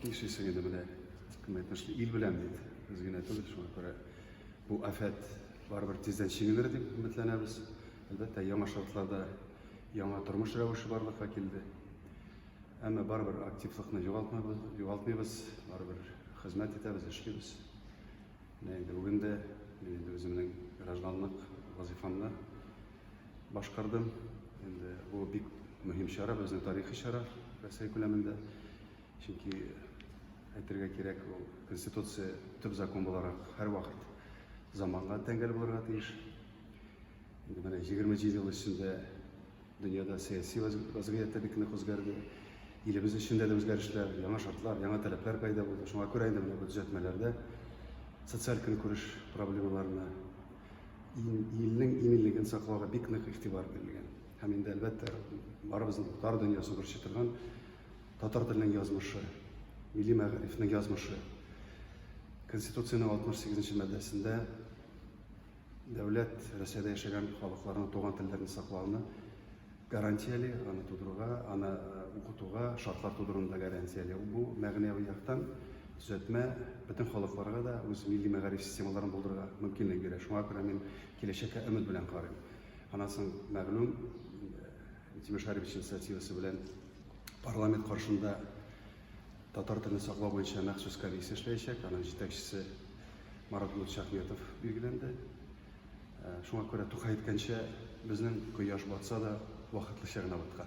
Нишлисең инде менә кем әйтмешли, ил белән бит, без генә түгел, шуңа күрә бу афәт барыбер тиздән чигенер дип өметләнәбез. Әлбәттә, яңа шартларда яңа тормыш рәвеше барлыкка килде. Әмма барыбер активлыкны югалтмабыз, югалтмыйбыз, барыбер хезмәт итәбез, эшлибез. Менә инде бүген дә мин инде үземнең гражданлык вазифамны башкардым. Инде бу бик мөһим чара, безнең тарихи чара Россия күләмендә. Чөнки әйтергә кирәк, ул Конституция төп закон буларак һәрвакыт заманга тәңгәл булырга тиеш. Инде менә 27 ел эчендә дөньяда сәяси вазгыять та бик нык үзгәрде. Илебез эчендә дә үзгәрешләр, яңа шартлар, яңа таләпләр пайда булды. Шуңа күрә инде менә бу төзәтмәләрдә социаль көнкүреш проблемаларына илнең иминлеген саклауга бик нык игътибар бирелгән. Һәм инде әлбәттә барыбызның бар дөньясын борчый торган Татар теленең язмышы, милли мәгарифнең язмышы. Конституциянең 68 нче маддәсендә дәүләт Россиядә яшәгән халыкларның туган телләрен саклауны гарантияли, аны тудыруга, аны э, укытуга шартлар тудыруны да гарантияли. Бу мәгънәви яктан төзәтмә бөтен халыкларга да үз милли мәгариф системаларын булдырырга мөмкинлек бирә. Шуңа күрә мин киләчәккә өмет белән карыйм. Аннан соң мәгълүм э, Тимеш Гарифович инициативасы белән парламент каршында татар телен саклау буенча махсус комиссия эшләячәк. Аның җитәкчесе Марат Нурчахметов билгеләнде. Э, шуңа күрә Тукай әйткәнчә, безнең кояш батса да, вакытлыча гына баткан.